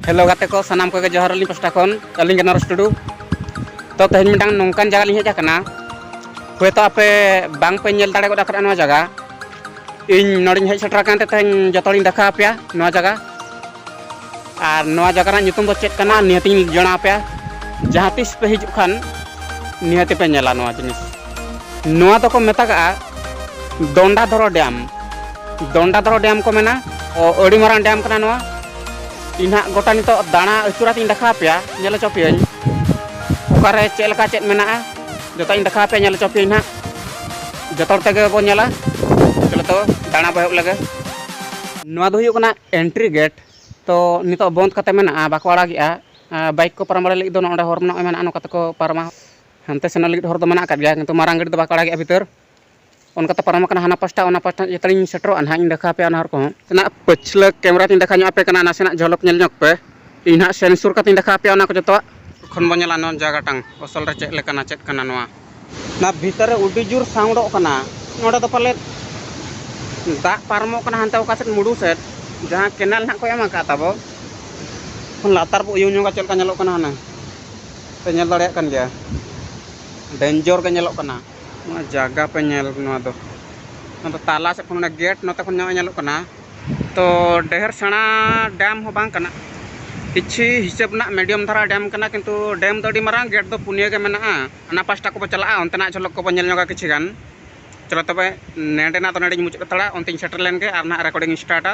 Hello ᱜᱟᱛᱮ ᱠᱚ ᱥᱟᱱᱟᱢ ᱠᱚᱜᱮ ᱡᱚᱦᱟᱨ ᱟᱹᱞᱤᱧ ᱯᱟᱥᱴᱟ ᱠᱷᱚᱱ ᱟᱹᱞᱤᱧ ᱜᱮ ᱱᱚᱨᱮᱥ ᱴᱩᱰᱩ ᱛᱚ ᱛᱮᱦᱮᱧ ᱢᱤᱫᱴᱟᱝ ᱱᱚᱝᱠᱟᱱ ᱡᱟᱭᱜᱟ ᱞᱤᱧ ᱦᱮᱡ ᱟᱠᱟᱱᱟ ᱦᱳᱭᱛᱳ ᱟᱯᱮ ᱵᱟᱝ ᱯᱮ ᱧᱮᱞ ᱫᱟᱲᱮ ᱜᱚᱫ ᱟᱠᱟᱫᱟ ᱱᱚᱣᱟ ᱡᱟᱭᱜᱟ ᱤᱧ ᱱᱚᱰᱮᱧ ᱦᱮᱡ ᱥᱮᱴᱮᱨ ᱟᱠᱟᱱ ᱛᱮ ᱛᱮᱦᱮᱧ ᱡᱚᱛᱚ ᱦᱚᱲᱤᱧ ᱫᱮᱠᱷᱟᱣ ᱟᱯᱮᱭᱟ ᱱᱚᱣᱟ ᱡᱟᱭᱜᱟ ᱟᱨ ᱱᱚᱣᱟ ᱡᱟᱭᱜᱟ ᱨᱮᱱᱟᱜ ᱧᱩᱛᱩᱢ ᱫᱚ ᱪᱮᱫ ᱠᱟᱱᱟ ᱱᱤᱦᱟᱹᱛᱤᱧ ᱡᱚᱱᱟᱣ ᱟᱯᱮᱭᱟ ᱡᱟᱦᱟᱸ ᱛᱤᱥ ᱯᱮ ᱦᱤᱡᱩᱜ ᱠᱷᱟᱱ ᱱᱤᱦᱟᱹᱛᱤ ᱯᱮ ᱧᱮᱞᱟ ᱱᱚᱣᱟ ᱡᱤᱱᱤᱥ ᱱᱚᱣᱟ ᱫᱚᱠᱚ ᱢᱮᱛᱟᱜᱼᱟ ᱫᱚᱱᱰᱟᱫᱷᱚᱨᱚ ᱰᱮᱢ ᱫᱚᱱᱰᱟᱫᱷᱚᱨᱚ ᱰᱮᱢ ᱠᱚ ᱢᱮᱱᱟ ᱟᱹᱰᱤ ᱢᱟᱨᱟᱝ ᱰᱮᱢ ᱠᱟᱱᱟ ᱱᱚᱣᱟ ᱤᱧ ᱦᱟᱸᱜ ᱜᱚᱴᱟ ᱱᱤᱛᱚᱜ ᱫᱟᱬᱟ ᱟᱹᱪᱩᱨ ᱟᱛᱤᱧ ᱫᱮᱠᱷᱟᱣ ᱯᱮᱭᱟ ᱧᱮᱞ ᱦᱚᱪᱚ ᱯᱮᱭᱟᱹᱧ ᱚᱠᱟᱨᱮ ᱪᱮᱫ ᱞᱮᱠᱟ ᱪᱮᱫ ᱢᱮᱱᱟᱜᱼᱟ ᱡᱚᱛᱚᱧ ᱫᱮᱠᱷᱟᱣ ᱯᱮᱭᱟ ᱧᱮᱞ ᱦᱚᱪᱚ ᱯᱮᱭᱟᱹᱧ ᱦᱟᱸᱜ ᱡᱚᱛᱚ ᱦᱚᱲ ᱛᱮᱜᱮ ᱵᱚᱱ ᱧᱮᱞᱟ ᱪᱚᱞᱚ ᱛᱚ ᱫᱟᱬᱟ ᱵᱚ ᱮᱦᱚᱵ ᱞᱮᱜᱮ ᱱᱚᱣᱟ ᱫᱚ ᱦᱩᱭᱩᱜ ᱠᱟᱱᱟ ᱮᱱᱴᱨᱤ ᱜᱮᱴ ᱛᱚ ᱱᱤᱛᱚᱜ ᱵᱚᱱᱫ ᱠᱟᱛᱮ ᱢᱮᱱᱟᱜᱼᱟ ᱵᱟᱠᱚ ᱟᱲᱟᱜᱮᱜᱼᱟ ᱵᱟᱭᱤᱠ ᱠᱚ ᱯᱟᱨᱚᱢ ᱵᱟᱲᱟ ᱞᱟᱹᱜᱤᱫ ᱫᱚ ᱱᱚᱰᱮ ᱦᱚᱨ ᱢᱮᱱᱟᱜᱼᱟ ᱱᱚᱝᱠᱟ ᱛᱮᱠᱚ ᱯᱟᱨᱚᱢᱟ ᱦᱟᱱᱛᱮ ᱥᱮᱱᱚᱜ ᱞᱟᱹᱜᱤᱫ ᱦᱚᱨ ᱫᱚ ᱢᱮᱱᱟᱜ ᱟᱠᱟᱫ ᱜᱮᱭᱟ ᱠᱤᱱᱛᱩ ᱢᱟᱨᱟᱝ ᱜᱟᱹᱰᱤ ᱫᱚ ᱵᱟᱠᱚ ᱟᱲᱟᱜᱮᱜᱼᱟ ᱵᱷᱤᱛᱟᱹᱨ ᱚᱱᱠᱟᱛᱮ ᱯᱟᱨᱚᱢ ᱟᱠᱟᱱᱟ ᱦᱟᱱᱟ ᱯᱟᱥᱴᱟ ᱚᱱᱟ ᱯᱟᱥᱴᱟ ᱡᱚᱛᱚ ᱞᱤᱧ ᱥᱮᱴᱮᱨᱚᱜᱼᱟ ᱱᱟᱦᱟᱜ ᱤᱧ ᱫᱮᱠᱷᱟᱣ ᱟᱯᱮᱭᱟ ᱚᱱᱟ ᱦᱚᱨ ᱠᱚᱦᱚᱸ᱾ ᱱᱟᱜ ᱯᱟᱹᱪᱷᱞᱟᱹ ᱠᱮᱢᱨᱟ ᱛᱤᱧ ᱫᱮᱠᱷᱟᱣ ᱧᱚᱜ ᱟᱯᱮ ᱠᱟᱱᱟ ᱱᱟᱥᱮᱱᱟᱜ ᱡᱷᱚᱞᱚᱠ ᱧᱮᱞ ᱧᱚᱜᱽ ᱯᱮ ᱤᱧ ᱱᱟᱦᱟᱜ ᱥᱮᱱ ᱥᱩᱨ ᱠᱟᱛᱮᱧ ᱫᱮᱠᱷᱟᱣ ᱟᱯᱮᱭᱟ ᱚᱱᱟ ᱠᱚ ᱡᱚᱛᱚᱣᱟᱜ᱾ ᱮᱠᱷᱚᱱ ᱵᱚ ᱧᱮᱞᱟ ᱱᱚᱣᱟ ᱡᱟᱭᱜᱟ ᱴᱟᱝ ᱚᱥᱚᱞ ᱨᱮ ᱪᱮᱫ ᱞᱮᱠᱟᱱᱟ ᱪᱮᱫ ᱠᱟᱱᱟ ᱱᱚᱣᱟ᱾ ᱱᱚᱣᱟ ᱵᱷᱤᱛᱟᱹᱨ ᱨᱮ ᱩᱰᱤ ᱡᱩᱨ ᱥᱟᱣᱩᱱᱰᱚᱜ ᱠᱟᱱᱟ ᱱᱚᱰᱮ ᱫᱚ ᱯᱟᱞᱮᱫ ᱫᱟᱜ ᱯᱟᱨᱚᱢᱚᱜ ᱠᱟᱱᱟ ᱦᱟᱱᱛᱮ ᱚᱠᱟ ᱥᱮᱫ ᱢᱩᱰᱩ ᱥᱮᱫ ᱡᱟᱦᱟᱸ ᱠᱮᱱᱟᱞ ᱱᱟᱦᱟᱜ ᱠᱚ ᱮᱢ ᱟᱠᱟᱫ ᱛᱟᱵᱚ ᱠᱷᱚᱱ ᱞᱟᱛᱟᱨ ᱵᱚ ᱩᱭᱩᱝ ᱧᱚᱜᱟ ᱪᱮᱫ ᱞᱮᱠᱟ ᱧᱮᱞᱚᱜ ᱠᱟᱱᱟ ᱦᱟᱱᱮ ᱯᱮ ᱧᱮᱞ ᱫᱟᱲᱮᱭᱟᱜ ᱠᱟᱱ ᱜᱮᱭᱟ ᱰᱮᱱᱡᱚᱨ ᱜᱮ ᱧᱮᱞᱚᱜ ᱠᱟᱱᱟ᱾ ᱱᱚᱣᱟ ᱡᱟᱭᱜᱟ ᱯᱮ ᱧᱮᱞ ᱱᱚᱣᱟ ᱫᱚ ᱱᱚᱣᱟ ᱫᱚ ᱛᱟᱞᱟ ᱥᱮᱫ ᱠᱷᱚᱱ ᱚᱱᱟ ᱜᱮᱴ ᱱᱚᱛᱮ ᱠᱷᱚᱱ ᱧᱚᱜ ᱧᱮᱞᱚᱜ ᱠᱟᱱᱟ ᱛᱚ ᱰᱷᱮᱨ ᱥᱮᱬᱟ ᱰᱮᱢ ᱦᱚᱸ ᱵᱟᱝ ᱠᱟᱱᱟ ᱠᱤᱪᱷᱩ ᱦᱤᱥᱟᱹᱵ ᱨᱮᱱᱟᱜ ᱢᱤᱰᱤᱭᱟᱢ ᱫᱷᱟᱨᱟ ᱰᱮᱢ ᱠᱟᱱᱟ ᱠᱤᱱᱛᱩ ᱰᱮᱢ ᱫᱚ ᱟᱹᱰᱤ ᱢᱟᱨᱟᱝ ᱜᱮᱴ ᱫᱚ ᱯᱩᱱᱭᱟᱹ ᱜᱮ ᱢᱮᱱᱟᱜᱼᱟ ᱦᱟᱱᱟ ᱯᱟᱥᱴᱟ ᱠᱚᱵᱚᱱ ᱪᱟᱞᱟᱜᱼᱟ ᱚᱱᱛᱮᱱᱟᱜ ᱡᱷᱚᱞᱚᱠ ᱠᱚᱵᱚᱱ ᱧᱮᱞ ᱧᱚᱜᱟ ᱠᱤᱪᱷᱩ ᱜᱟᱱ ᱪᱚᱞᱚ ᱛᱚᱵᱮ ᱱᱚᱰᱮᱱᱟᱜ ᱫᱚ ᱱᱚᱰᱮᱧ ᱢᱩᱪᱟᱹᱫ ᱦᱟᱛᱟᱲᱟ ᱚᱱᱛᱮᱧ ᱥᱮᱴᱮᱨ ᱞᱮᱱᱜᱮ ᱟᱨ ᱱᱟᱦᱟᱜ ᱨᱮᱠᱳᱰᱤᱝ ᱤᱧ ᱥᱴᱟᱨᱴᱟ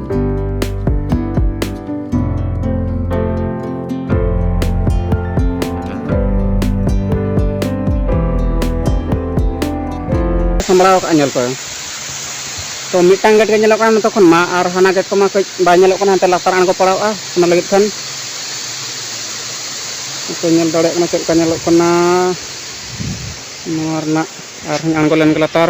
ᱥᱟᱢᱵᱲᱟᱣ ᱠᱟᱜᱼᱟ ᱧᱮᱞ ᱯᱮ ᱛᱚ ᱢᱤᱫᱴᱟᱝ ᱜᱮᱴ ᱜᱮ ᱧᱮᱞᱚᱜ ᱠᱟᱱᱟ ᱱᱤᱛᱚᱜ ᱠᱷᱚᱱ ᱢᱟ ᱟᱨ ᱦᱟᱱᱟ ᱜᱮᱴ ᱠᱚᱢᱟ ᱠᱟᱹᱡ ᱵᱟᱭ ᱧᱮᱞᱚᱜ ᱠᱟᱱᱟ ᱦᱟᱱᱛᱮ ᱞᱟᱛᱟᱨ ᱟᱬᱜᱚ ᱯᱟᱲᱟᱣᱼᱟ ᱚᱱᱟ ᱞᱟᱹᱜᱤᱫ ᱠᱷᱟᱱ ᱠᱚ ᱧᱮᱞ ᱫᱟᱲᱮᱭᱟᱜ ᱠᱟᱱᱟ ᱪᱮᱫ ᱞᱮᱠᱟ ᱧᱮᱞᱚᱜ ᱠᱟᱱᱟ ᱱᱚᱣᱟ ᱨᱮᱱᱟᱜ ᱟᱨᱦᱚᱸ ᱟᱬᱜᱚ ᱞᱮᱱ ᱜᱮ ᱞᱟᱛᱟᱨ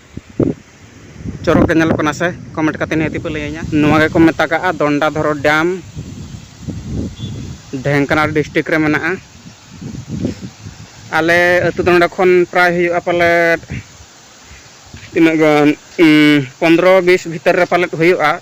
ᱪᱚᱨᱚᱠ ᱜᱮ ᱧᱮᱞᱚᱜ ᱠᱟᱱᱟ ᱥᱮ ᱠᱚᱢᱮᱱᱴ ᱠᱟᱛᱮ ᱱᱤᱦᱟᱹᱛ ᱯᱮ ᱞᱟᱹᱭᱟᱹᱧᱟ ᱱᱚᱣᱟ ᱜᱮᱠᱚ ᱢᱮᱛᱟᱜᱟᱜᱼᱟ ᱫᱚᱱᱰᱟᱫᱷᱚᱨᱚ ᱰᱮᱢ ᱰᱷᱮᱝᱠᱟᱱᱟᱞ ᱰᱤᱥᱴᱨᱤᱠ ᱨᱮ ᱢᱮᱱᱟᱜᱼᱟ ᱟᱞᱮ ᱟᱹᱛᱩ ᱫᱚ ᱱᱚᱰᱮ ᱠᱷᱚᱱ ᱯᱨᱟᱭ ᱦᱩᱭᱩᱜᱼᱟ ᱯᱟᱞᱮᱫ ᱛᱤᱱᱟᱹᱜ ᱜᱟᱱ ᱯᱚᱱᱫᱨᱚ ᱵᱤᱥ ᱵᱷᱤᱛᱟᱹᱨ ᱨᱮ ᱯᱟᱞᱮᱫ ᱦᱩᱭᱩᱜᱼᱟ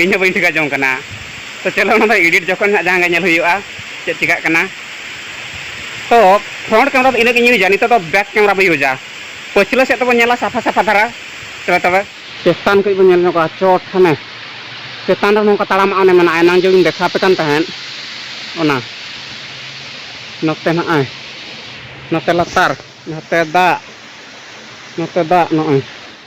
ᱤᱧ ᱦᱚᱸ ᱵᱟᱹᱧ ᱴᱷᱤᱠᱟᱹ ᱡᱚᱝ ᱠᱟᱱᱟ ᱛᱚ ᱪᱚᱞᱚ ᱚᱱᱟ ᱫᱚ ᱮᱰᱤᱴ ᱡᱚᱠᱷᱚᱱ ᱦᱟᱸᱜ ᱡᱟᱦᱟᱸ ᱜᱮ ᱧᱮᱞ ᱦᱩᱭᱩᱜᱼᱟ ᱪᱮᱫ ᱪᱤᱠᱟᱹᱜ ᱠᱟᱱᱟ ᱛᱚ ᱯᱷᱨᱚᱱᱴ ᱠᱮᱢᱮᱨᱟ ᱫᱚ ᱤᱱᱟᱹᱜ ᱜᱤᱧ ᱤᱭᱩᱡᱟ ᱱᱤᱛᱚᱜ ᱫᱚ ᱵᱮᱠ ᱠᱮᱢᱮᱨᱟ ᱵᱚᱱ ᱤᱭᱩᱡᱟ ᱯᱟᱹᱪᱷᱞᱟᱹ ᱥᱮᱫ ᱛᱮᱵᱚᱱ ᱧᱮᱞᱟ ᱥᱟᱯᱷᱟ ᱥᱟᱯᱷᱟ ᱫᱷᱟᱨᱟ ᱛᱚᱵᱮ ᱛᱚᱵᱮ ᱪᱮᱛᱟᱱ ᱠᱷᱚᱱ ᱵᱚᱱ ᱧᱮᱞ ᱧᱚᱜᱟ ᱪᱚᱴ ᱦᱟᱱᱮ ᱪᱮᱛᱟᱱ ᱨᱮ ᱱᱚᱝᱠᱟ ᱛᱟᱲᱟᱢᱟᱜ ᱚᱱᱮ ᱢᱮᱱᱟᱜᱼᱟ ᱮᱱᱟᱝ ᱡᱮᱧ ᱫᱮᱠᱷᱟᱣ ᱟᱯᱮ ᱠᱟᱱ ᱛᱟᱦᱮᱸᱫ ᱚᱱᱟ ᱱᱚᱛᱮ ᱱᱚᱜᱼᱚᱭ ᱱᱚᱛᱮ ᱞᱟᱛᱟᱨ ᱱᱚᱛᱮ ᱫᱟᱜ ᱱᱚᱛᱮ ᱫᱟᱜ ᱱᱚᱜᱼᱚᱭ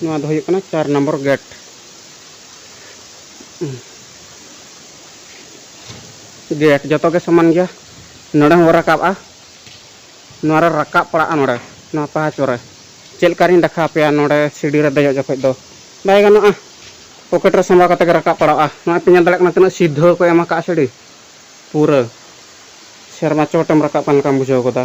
ᱱᱚᱣᱟ ᱫᱚ ᱦᱩᱭᱩᱜ ᱠᱟᱱᱟ ᱪᱟᱨ ᱱᱚᱢᱵᱚᱨ ᱜᱮᱴ ᱜᱮᱴ ᱡᱚᱛᱚ ᱜᱮ ᱥᱚᱢᱟᱱ ᱜᱮᱭᱟ ᱱᱚᱰᱮ ᱦᱚᱸ ᱨᱟᱠᱟᱵᱼᱟ ᱱᱚᱣᱟ ᱨᱮ ᱨᱟᱠᱟᱵ ᱯᱟᱲᱟᱜᱼᱟ ᱱᱚᱰᱮ ᱱᱚᱣᱟ ᱯᱟᱦᱟᱪ ᱨᱮ ᱪᱮᱫ ᱞᱮᱠᱟᱨᱤᱧ ᱫᱮᱠᱷᱟᱣ ᱯᱮᱭᱟ ᱱᱚᱰᱮ ᱥᱤᱰᱤ ᱨᱮ ᱫᱮᱡᱚᱜ ᱡᱚᱠᱷᱚᱡ ᱫᱚ ᱵᱟᱭ ᱜᱟᱱᱚᱜᱼᱟ ᱯᱚᱠᱮᱴ ᱨᱮ ᱥᱟᱢᱵᱟᱣ ᱠᱟᱛᱮ ᱜᱮ ᱨᱟᱠᱟᱵ ᱯᱟᱲᱟᱜᱼᱟ ᱱᱚᱣᱟ ᱯᱮ ᱧᱮᱞ ᱫᱟᱲᱮᱭᱟᱜ ᱠᱟᱱᱟ ᱛᱤᱱᱟᱹᱜ ᱥᱤᱫᱷᱟᱹ ᱠᱚ ᱮᱢ ᱟᱠᱟᱫᱼᱟ ᱥᱤᱰᱤ ᱯᱩᱨᱟᱹ ᱥᱮᱨᱢᱟ ᱪᱚᱴᱮᱢ ᱨᱟᱠᱟᱵ ᱠᱟᱱ ᱞᱮᱠᱟᱢ ᱵᱩᱡᱷᱟᱹᱣ ᱜᱚᱫᱟ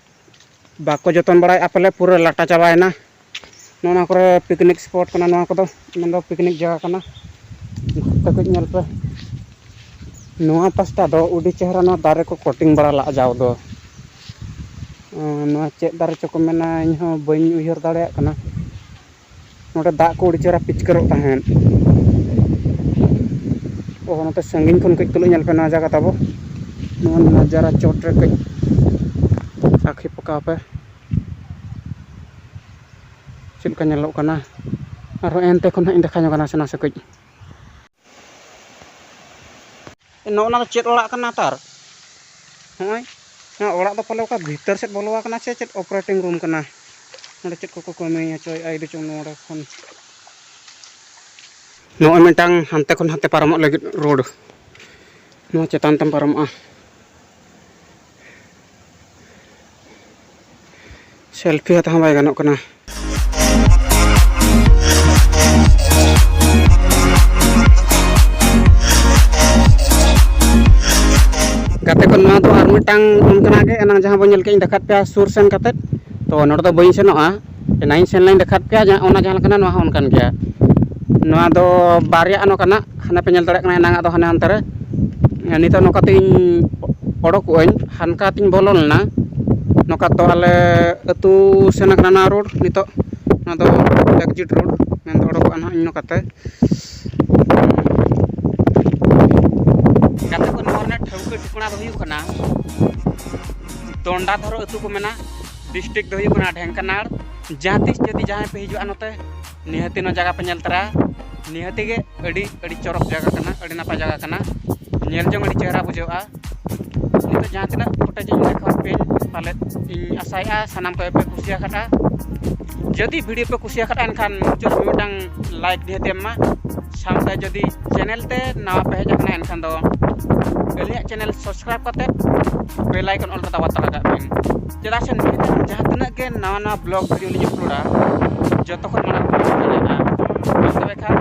ᱵᱟᱠᱚ ᱡᱚᱛᱚᱱ ᱵᱟᱲᱟᱭᱮᱫᱼᱟ ᱯᱟᱞᱮ ᱯᱩᱨᱟᱹ ᱞᱟᱴᱟ ᱪᱟᱵᱟᱭᱮᱱᱟ ᱱᱚᱜᱼᱚ ᱱᱚᱣᱟ ᱠᱚᱨᱮ ᱯᱤᱠᱱᱤᱠ ᱥᱯᱚᱴ ᱠᱟᱱᱟ ᱱᱚᱣᱟ ᱠᱚᱫᱚ ᱢᱮᱱᱫᱚ ᱯᱤᱠᱱᱤᱠ ᱡᱟᱭᱜᱟ ᱠᱟᱱᱟ ᱜᱷᱩᱨᱛᱮ ᱠᱟᱹᱡ ᱧᱮᱞ ᱯᱮ ᱱᱚᱣᱟ ᱯᱟᱥᱴᱟ ᱫᱚ ᱟᱹᱰᱤ ᱪᱮᱦᱨᱟ ᱱᱚᱣᱟ ᱫᱟᱨᱮ ᱠᱚ ᱠᱚᱴᱤᱝ ᱵᱟᱲᱟ ᱞᱟᱜᱼᱟ ᱡᱟᱣ ᱫᱚ ᱱᱚᱣᱟ ᱪᱮᱫ ᱫᱟᱨᱮ ᱪᱚᱠᱚ ᱢᱮᱱᱟ ᱤᱧᱦᱚᱸ ᱵᱟᱹᱧ ᱩᱭᱦᱟᱹᱨ ᱫᱟᱲᱮᱭᱟᱜ ᱠᱟᱱᱟ ᱱᱚᱸᱰᱮ ᱫᱟᱜ ᱠᱚ ᱟᱹᱰᱤ ᱪᱮᱦᱨᱟ ᱯᱤᱪᱠᱟᱹᱨᱚᱜ ᱛᱟᱦᱮᱸᱫ ᱚ ᱱᱚᱛᱮ ᱥᱟᱺᱜᱤᱧ ᱠᱷᱚᱱ ᱠᱟᱹᱡ ᱛᱩᱞᱟᱹᱜ ᱧᱮᱞ ᱯᱮ ᱱᱚᱣᱟ ᱡᱟᱭᱜᱟ ᱛᱟᱵᱚ ᱱᱚᱣᱟ ᱱᱟᱡᱟᱨᱟ ᱪᱚᱴ ᱨᱮ ᱠᱟᱹᱡ ᱟᱹᱠᱷᱤ ᱯᱟᱠᱟᱣ ᱯᱮ ᱪᱮᱫ ᱞᱮᱠᱟ ᱧᱮᱞᱚᱜ ᱠᱟᱱᱟ ᱟᱨᱦᱚᱸ ᱮᱱᱛᱮ ᱠᱷᱚᱱ ᱦᱟᱸᱜ ᱤᱧ ᱫᱮᱠᱷᱟᱣ ᱧᱚᱜᱟ ᱱᱟᱥᱮ ᱱᱟᱥᱮ ᱠᱟᱹᱡ ᱱᱚᱜᱼᱚ ᱱᱟ ᱫᱚ ᱪᱮᱫ ᱚᱲᱟᱜ ᱠᱟᱱᱟ ᱛᱟᱨ ᱦᱚᱸᱜᱼᱚᱭ ᱱᱚᱣᱟ ᱚᱲᱟᱜ ᱫᱚ ᱯᱟᱞᱮ ᱚᱠᱟ ᱵᱷᱤᱛᱟᱹᱨ ᱥᱮᱫ ᱵᱚᱞᱚ ᱟᱠᱟᱱᱟ ᱥᱮ ᱪᱮᱫ ᱚᱯᱟᱨᱮᱴᱤᱝ ᱨᱩᱢ ᱠᱟᱱᱟ ᱱᱚᱰᱮ ᱪᱮᱫ ᱠᱚᱠᱚ ᱠᱟᱹᱢᱤ ᱦᱚᱪᱚᱭᱮᱫᱼᱟ ᱤᱫᱤ ᱪᱚᱝ ᱱᱚᱰᱮ ᱠᱷᱚᱱ ᱱᱚᱜᱼᱚᱭ ᱢᱤᱫᱴᱟᱝ ᱦᱟᱱᱛᱮ ᱠᱷᱚᱱ ᱦᱟᱱᱛᱮ ᱯᱟᱨᱚᱢᱚᱜ ᱞᱟᱹᱜᱤᱫ ᱨᱳᱰ ᱱᱚᱣᱟ ᱪᱮᱛᱟᱱ ᱛᱮᱢ ᱯᱟᱨᱚᱢᱚᱜᱼᱟ ᱥᱮᱞᱯᱷᱤ ᱦᱟᱛᱟᱣ ᱦᱚᱸ ᱵᱟᱭ ᱜᱟᱱᱚᱜ ᱠᱟᱱᱟ ᱜᱟᱛᱮ ᱠᱚ ᱱᱚᱣᱟ ᱫᱚ ᱟᱨ ᱢᱤᱫᱴᱟᱝ ᱚᱱᱠᱟᱱᱟᱜ ᱜᱮ ᱮᱱᱟᱝ ᱡᱟᱦᱟᱸ ᱵᱚᱱ ᱧᱮᱞ ᱠᱮᱫ ᱤᱧ ᱫᱮᱠᱷᱟᱣ ᱯᱮᱭᱟ ᱥᱩᱨ ᱥᱮᱱ ᱠᱟᱛᱮᱫ ᱛᱚ ᱱᱚᱰᱮ ᱫᱚ ᱵᱟᱹᱧ ᱥᱮᱱᱚᱜᱼᱟ ᱮᱱᱟᱝᱤᱧ ᱥᱮᱱ ᱞᱮᱱ ᱫᱮᱠᱷᱟᱣᱟᱫ ᱯᱮᱭᱟ ᱡᱟᱦᱟᱸ ᱚᱱᱟ ᱡᱟᱦᱟᱸ ᱞᱮᱠᱟᱱᱟ ᱱᱚᱣᱟ ᱦᱚᱸ ᱚᱱᱠᱟᱱ ᱜᱮᱭᱟ ᱱᱚᱣᱟ ᱫᱚ ᱵᱟᱨᱭᱟ ᱱᱚᱝᱠᱟ ᱱᱟᱜ ᱦᱟᱱᱮ ᱯᱮ ᱧᱮᱞ ᱫᱟᱲᱮᱭᱟᱜ ᱠᱟᱱᱟ ᱮᱱᱟᱝ ᱟᱜ ᱫᱚ ᱦᱟᱱᱮ ᱦᱟᱱᱛᱮ ᱨᱮ ᱱᱤᱛᱚᱜ ᱱᱚᱝᱠᱟ ᱛᱮᱧ ᱚᱰᱚᱠᱚᱜ ᱟᱹᱧ ᱦᱟᱱᱠᱟ ᱛᱮᱧ ᱵᱚᱞᱚ ᱞᱮᱱᱟ ᱱᱚᱝᱠᱟ ᱛᱚ ᱟᱞᱮ ᱟᱹᱛᱩ ᱥᱮᱱ ᱠᱟᱱᱟ ᱱᱚᱣᱟ ᱨᱳᱰ ᱱᱤᱛᱚᱜ ᱱᱚᱣᱟ ᱫᱚ ᱮᱠᱡᱤᱴ ᱨᱳᱰ ᱢᱮᱱ ᱫᱚ ᱚᱰᱚᱠᱚᱜᱼᱟ ᱱᱟᱦᱟᱜ ᱤᱧ ᱱᱚᱝᱠᱟᱛᱮ ᱜᱟᱛᱮ ᱠᱚ ᱱᱚᱣᱟ ᱨᱮᱱᱟᱜ ᱴᱷᱟᱹᱣᱠᱟᱹ ᱴᱷᱤᱠᱟᱹᱱᱟ ᱫᱚ ᱦᱩᱭᱩᱜ ᱠᱟᱱᱟ ᱫᱚᱱᱰᱟ ᱫᱷᱚᱨᱚᱢ ᱟᱹᱛᱩ ᱠᱚ ᱢᱮᱱᱟ ᱰᱤᱥᱴᱨᱤᱠ ᱫᱚ ᱦᱩᱭᱩᱜ ᱠᱟᱱᱟ ᱰᱷᱮᱝᱠᱟᱱᱟᱲ ᱡᱟᱦᱟᱸ ᱛᱤᱥ ᱡᱩᱫᱤ ᱡᱟᱦᱟᱸᱭ ᱯᱮ ᱦᱤᱡᱩᱜᱼᱟ ᱱᱚᱛᱮ ᱱᱤᱦᱟᱹᱛᱤ ᱱᱚᱣᱟ ᱡᱟᱭᱜᱟ ᱯᱮ ᱧᱮᱞ ᱛᱚᱨᱟᱭᱟ ᱱᱤᱦᱟᱹᱛᱤ ᱜᱮ ᱟᱹᱰᱤ ᱟᱹᱰᱤ ᱪᱚᱨᱚᱠ ᱡᱟᱭᱜᱟ ᱠᱟᱱᱟ ᱟᱹᱰᱤ ᱱᱟᱯᱟᱭ ᱡᱟᱭᱜᱟ ᱠᱟᱱᱟ ᱧᱮᱞ ᱡᱚᱝ ᱟᱹᱰᱤ ᱪᱮᱦᱨᱟ ᱵᱩᱡᱷᱟᱹᱜᱼᱟ ᱱᱤᱛᱚᱜ ᱡᱟᱦᱟᱸ ᱛᱤᱱᱟᱹᱜ ᱯᱷᱩᱴᱮᱡᱽ ᱤᱧ ᱫᱮᱠᱷᱟᱣᱟᱫ ᱯᱮᱭᱟᱹᱧ ᱯᱟᱞᱮᱫ ᱤᱧ ᱟᱥᱟᱭᱮᱫᱼᱟ ᱥᱟᱱᱟᱢ ᱠᱚᱜᱮ ᱯᱮ ᱠᱩᱥᱤᱭᱟᱠᱟᱫᱼᱟ ᱡᱩᱫᱤ ᱵᱷᱤᱰᱤᱭᱳ ᱯᱮ ᱠᱩᱥᱤ ᱟᱠᱟᱫᱟ ᱮᱱᱠᱷᱟᱱ ᱢᱩᱪᱟᱹᱫ ᱨᱮ ᱢᱤᱫᱴᱟᱝ ᱞᱟᱭᱤᱠ ᱱᱤᱦᱟᱹᱛ ᱮᱢ ᱢᱟ ᱥᱟᱶᱛᱮ ᱡᱩᱫᱤ ᱪᱮᱱᱮᱞ ᱛᱮ ᱱᱟᱣᱟ ᱯᱮ ᱦᱮᱡ ᱟᱠᱟᱱᱟ ᱮᱱᱠᱷᱟᱱ ᱫᱚ ᱟᱹᱞᱤᱧᱟᱜ ᱪᱮᱱᱮᱞ ᱥᱟᱵᱥᱠᱨᱟᱭᱤᱵ ᱠᱟᱛᱮ ᱵᱮᱞ ᱟᱭᱠᱚᱱ ᱚᱞ ᱠᱟᱛᱮ ᱵᱟᱛᱟ ᱞᱟᱜᱟᱜ ᱵᱤᱱ ᱪᱮᱫᱟᱜ ᱥᱮ ᱡᱟᱦᱟᱸ ᱛᱤᱱᱟᱹᱜ ᱜᱮ ᱱᱟᱣᱟ ᱱᱟᱣᱟ ᱵᱞᱚᱜ ᱵᱷᱤᱰᱤᱭᱳ ᱞᱤᱧ ᱟᱯᱞᱳᱰᱟ ᱡᱚᱛᱚ ᱠᱷᱚᱱ ᱢᱟᱲᱟᱝ ᱵᱤᱱ ᱫᱟᱲᱮᱭᱟᱜᱼᱟ ᱛᱚᱵᱮ ᱠᱷᱟᱱ